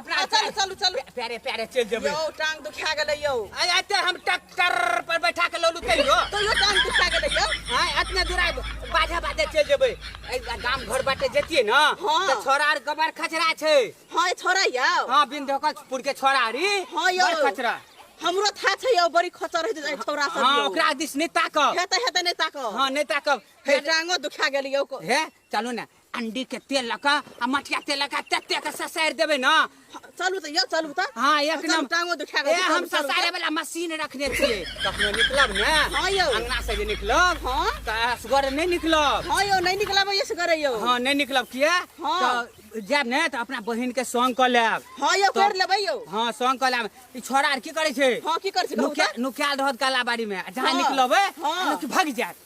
अपना आ, चलू चलू चलू प्यारे प्यारे चल जेबै यौ टांग दुखा गेलै यौ आय आते हम ट्रैक्टर पर बैठा के लौलू तैयो तैयो टांग दुखा गेलै यौ आय अतने दूर आय बाधे बाधे चल जेबै ऐ गाम घर बाटे जेतिए न हाँ। त छोरा आर गबर खचरा छै हँ ए छोरा यौ हां बिंदकपुर के छोरा आरी हँ यौ बड़ खचरा हमरो था छै यौ बड़ी खचर होइ छै छोरा सब हां यौ ओकरा दिस नै ताकब हेतै हेतै नहि ताकब हां नै ताकब हे हे टांगो दुखा गेलै यौ को- हे चलू ने अंडी के तेल लऽ कऽ आ मटिया तेल लऽ कऽ तते के ससारि देबै ने चलू तऽ यौ चलू तऽ हाँ एक चलू, नंबर टांगो दुखा ए गेल हम चलू, चलू, ससारे वाला मशीन रखने छियै कखनो निकलब ने हाँ यौ। अंगना से जे निकलब हाँ। तऽ असगर नहि निकलब हँ यौ नहि निकलब यस करे यौ हाँ नहि निकलब किया हाँ। तऽ जायब ने तऽ अपना बहिन के संग कऽ लेब हँ यौ तऽ- कर लेबै यौ हाँ संग कऽ लेब ई छोड़ा आर की करै छै हँ की कर छी कहू नुका- तऽ? नुकायल रहत गला बाड़ी में जहाँ हाँ। निकलबै हाँ। लोक भागि जायत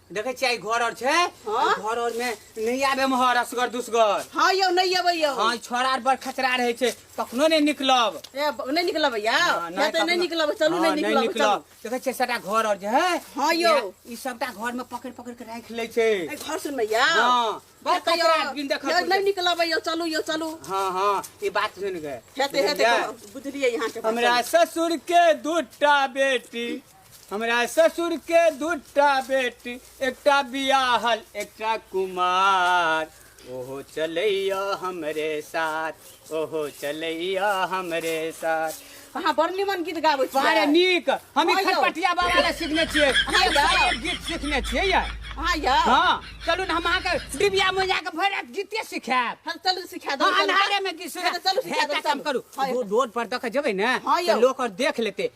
देखे छियै घर और छै घर और में नहीं आबे में हर असगर दुसगर हां यो नहीं आबे यो हां छोरा आर बड़ खतरा रहे छै कखनो नहीं निकलब ए नहीं निकलब या नहीं तो नहीं निकलब चलू नहीं निकलब चलू देखे छियै सटा घर और जे है हां यो ई सबटा घर में पकड़ पकड़ के राख ले छै ए घर सुन में या हां बड़ खतरा बिन देख नहीं निकलब यो चलू यो चलू हां हां ई बात सुन के हेते हेते बुझलिए यहां के हमरा ससुर के दूटा बेटी हमरा ससुर के दूटा बेटी एकटा बियाहल एकटा कुमार ओहो चलैया हमरे साथ ओहो चलैया हमरे साथ अहाँ बड़ निमन गीत गाबै छी बारे नीक हम ई हँ यौ। खटपटिया बाबा ले सीखने छियै हँ एक सँ यौ। एक गीत सीखने छियै ये अहाँ यौ हँ चलू ने हम अहाँके डिबिया में जाके भरि रात गीते सिखायब हम चलू सिखा दो हाँ, अन्हारे में किस चलू सिखा दो हे, काम करू हाँ, दो- रोड पर दखा जेबै ने हाँ, तऽ यौ। लोग और देख लेते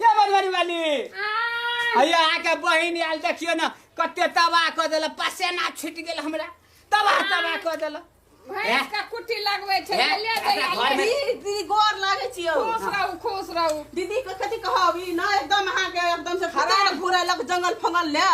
ये बनवारी वाली अया आके बहिन आयल देखियो ना कते तबाह क देला पसेना छूट गेल हमरा तबाह तबाह क देला भैंस का कुट्टी लगबै छै हैं? ले अपना जइया घर में- दीदी दीदी गोर लागै छियौ खुश रहू खुश रहू दीदी के कथी कहब ई ना एकदम अहाँ के एकदम से खराब घुरे लग जंगल फंगल ले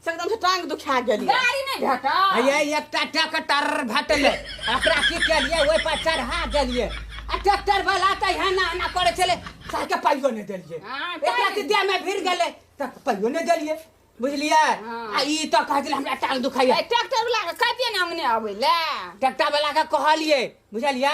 से एकदम से टांग दुखा गेली गाड़ी नहीं भेटा ये एकटा ट्रैक्टर भेटलै ओकरा की केलियै ओहि पर चढ़ा देलियै आ ट्रैक्टर वाला तऽ एना एना करै छलै साके पाइयो नहि देलियै हाँ, एकरा की देह में भिड़ गेलै तऽ पाइयो नहि देलियै बुझलियै हाँ। आ ई तऽ कहै छलै हमरा टांग दुखाइया ट्रैक्टर वाला के कहिए ना अंगने आवे ले ट्रैक्टर वाला के कहलियै बुझलियै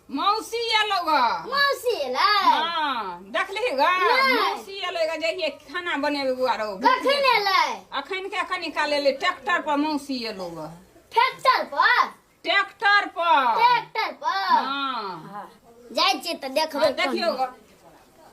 मौसी एलौ ग मौसी एलै हाँ देखली ग नहि। मौसी एलै ग जहिए खाना बनेबे गुआरो कखन एलै अखन के कनी काल एलै ट्रैक्टर पर मौसी एलौ ग ट्रैक्टर पर ट्रैक्टर पर ट्रैक्टर पर हाँ जाइ छियै तऽ देखबै हाँ, देखियौ ग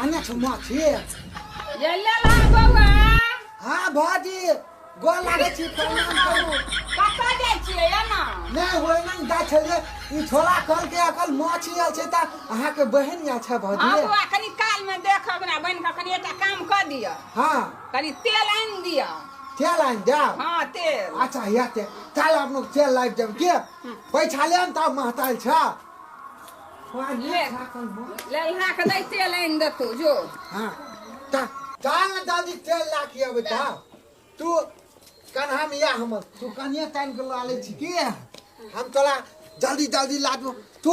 आना छौ माछी गेलै ला बौआ हाँ भाजी गोर लागै छी प्रणाम करू कतऽ जाइ छियै एना नहि होइमे ने जाइ छलियै ई छोला कहलकै अकल माछी आयल छै तऽ अहाँके बहन आयल छै हँ भाजी बौआ कनि कालमे देख हमरा बनि कऽ कनि एकटा काम कऽ दिअ हाँ कनि तेल आनि दिअ तेल आनि जाओ हाँ तेल अच्छा या तेल काल्हि अपने तेल लाबि देब के बैठले ने तब महताल छ ले ले इहा के दे तेल आनि देतौ जो हां त चाल न दादी तेल ला के अबै त तू कन्हा में या हम तू कनिया तान के ला ले छी के हम तोरा जल्दी जल्दी ला दू तू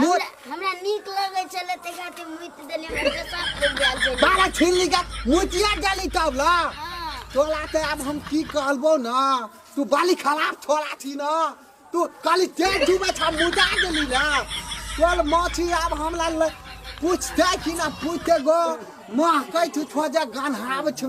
मुत हमरा नीक लगै छलै तै खातिर मुइत देलियै हमरा पेशाब कर गेल छलै बारह छीन ली का मुतिया जाली तब ला हाँ, तोला ते अब हम की कहलबो ना तू बाली खराब थोड़ा थी ना तू काली तेज डूबे था मुदा देली ना तोल माछी अब हमला ले पूछते कि ना पूछते गो माँ कह तू थोजा गान हाव छु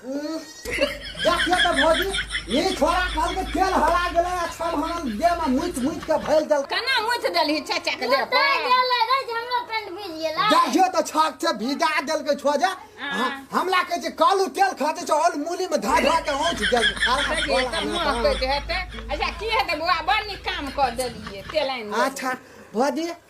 देखिए तो भौजी ई छोरा कल के तेल हरा गेले आ छल हमन दे में मुइत मुइत के भइल दल कना मुछ देलही चाचा के देह पर देखिए तो छाक से भिजा देल के छो जा ह- हमला के जे कालू तेल खाते छ ओल मूली में धा धा के औंच देल खराब देखिए त मुंह कोला। कहते हेते अच्छा की हेते बुआ बड़ नीक काम कर देलिए तेलाइन अच्छा भौजी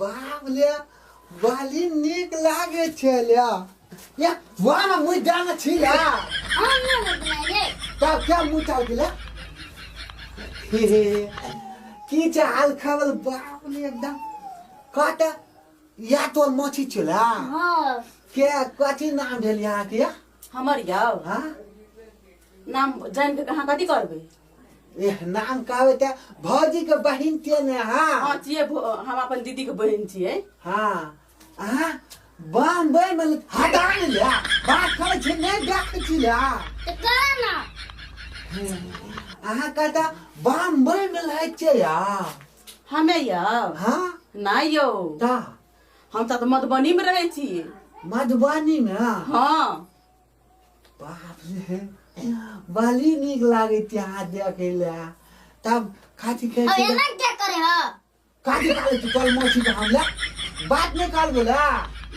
बाप ले बाली नीक लागे छै ले या वाह ना मुझ जाना छी ले हम ना मुझ बनाइए तब क्या मुझ चाल के ले की चाल खबर बाप ले एकदम काटा या तो मोची चला हां के कथी नाम भेल यहाँ के हमर याव हां नाम जान के कहाँ कथी करबे एह नाम कहबे ते भौजी के बहिन छियै ने अहाँ हाँ छिए हम अपन दीदी के बहन छिए हाँ अहाँ बम्बई में हटा ले ले बात करे छी नहीं देखे छी ले तो करा ना अहाँ कहता बम्बई में लहै छियै या हमे यौ हाँ नहीं यौ ता हम सब तो मधुबनी में रहे छी मधुबनी में हाँ बाप रे बड़ी नीक लागे त्यार देखे ले तब खाती अब खाती एना क्या करे हो काटी काले तू कल मौसी का हमला बात नहीं काल बोला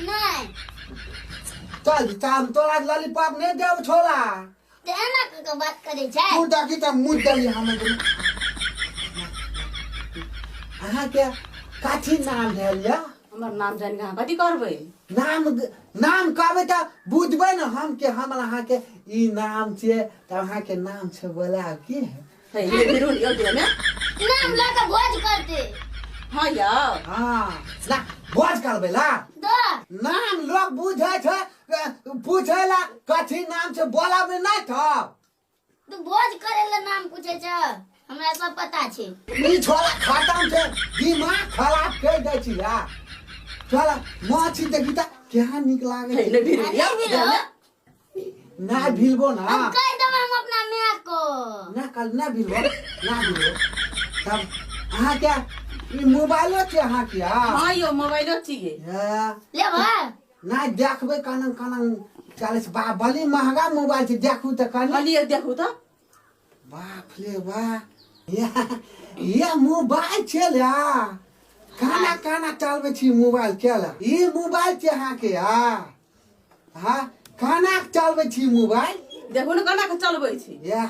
नहीं चल काम तो आज लॉलीपॉप नहीं देव छोला तो एना के के बात करे छै तू डाकी त मुद दली हमें को अहाँ के काठी नाम भेल या हमर नाम जानि कऽ अहाँ कथी करबै नाम नाम कहबै तऽ बुझबै ने हम के हम अहाँके ई नाम छियै तऽ अहाँके नाम छै बोला की है हे हे बिरुन यो दिया ने नाम लऽ कऽ भोज करते हां या हाँ ना भोज करबै ला दो नाम लोग बुझै छै अ, पूछै ला कथी नाम छै बोलाबै नहि थब तू भोज करे ला नाम पूछे छ हमरा सब पता छे ई छोरा खतम छे दिमाग खराब कर दे छी या छोरा माछी देखी त क्या निक लागे नहीं, नहीं, नहीं। अरे भी लो ना भिलबो ना हम कह देब हम अपना माय को ना कल ना भिलबो ना भिलबो तब अहाँ क्या ई मोबाइलो छे अहाँ क्या हाँ यो मोबाइलो चाहिए या, लेबा नहि देखबै कनन कनन चलै छै बा बली महगा मोबाइल छै देखू तऽ कनी कहलियै देखू तऽ बाप रे बा ये मोबाइल छै ले काना काना चलबै छी मोबाइल के ले ई मोबाइल छै अहाँके आ हँ काना चलबै छी मोबाइल देखू ने केना कऽ चलबै छी यह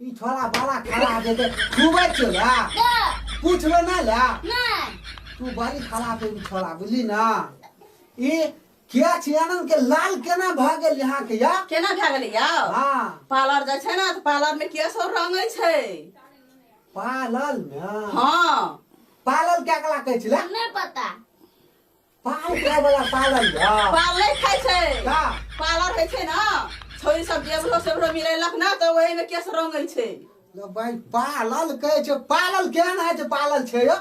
ई छोरा बड़ा खराब है घूमे छो ला पूछ लो ना ला तू बड़ी खराब है छोरा बुझली ना ई क्या छियानन के लाल केना भ गेल यहाँ के या केना भए गेलै या हां पार्लर जाय छै ना त पार्लर में के सब रंगै छै पार्लर में हां पार्लर क्या कला कहै छला नै पता पाल खाय वाला पालन है पाल नहीं खाए छे का? पालर है छे ना छोरी सब जेबरो सेबरो मिलेलक ना तो वही में केस रंगे छे लो भाई पालल कहे छे पालल केहन है जे पालल छे यो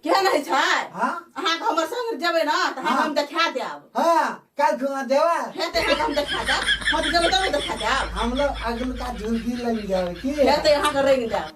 केहन है छे हाँ? अहाँ के हमर संग जेबे ना तो हाँ। हम देखा देब हाँ कल खुआ देवा हेते अहाँ के हम देखा देब हम जेबे तब देखा देब हम लोग अगल का झुलकी लग जाए की हेते अहाँ के रंग देब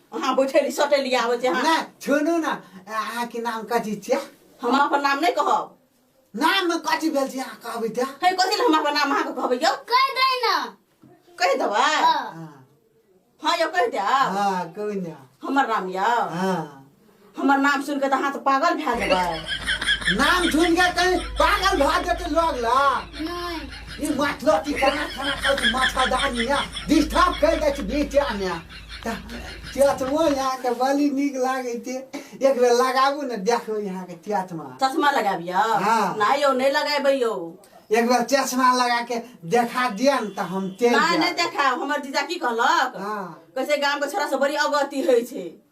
अहाँ बैठेली सटेली आबै छै अहाँ नहि छोड़ू ने अहाँके नाम कथी छियै हम अपन नाम नहि कहब नाम कथी भेल छै अहाँ कहबै तऽ हे कथी लए हम अपन नाम अहाँके कहबै यौ कह दे ना कहि देबै हाँ। हँ यौ कहि देब हाँ कोई ना हमर नाम यौ हाँ हमर नाम सुनि के तऽ अहाँ तऽ पागल भए जेबै नाम सुनि के कहीं पागल भए जेतै लोग ला ई माथलो की कना खाना खाउ तऽ माथा दानी ने डिस्टर्ब कर दै छै बीचा ने चचमो यहाँ के बड़ी नीक लागे छै एक बेर लगाबू ने देखो यहाँ के चचमा चश्मा लगाबियो हाँ। नहि यौ नहि लगेबै यौ एक बेर चश्मा लगा के देखा दिया ने तऽ हम चलि नहि नहि जायब देखायब हमर जीजा की कहलक हाँ। कैसे गाम के छोरा से बड़ी अवगति होइ छै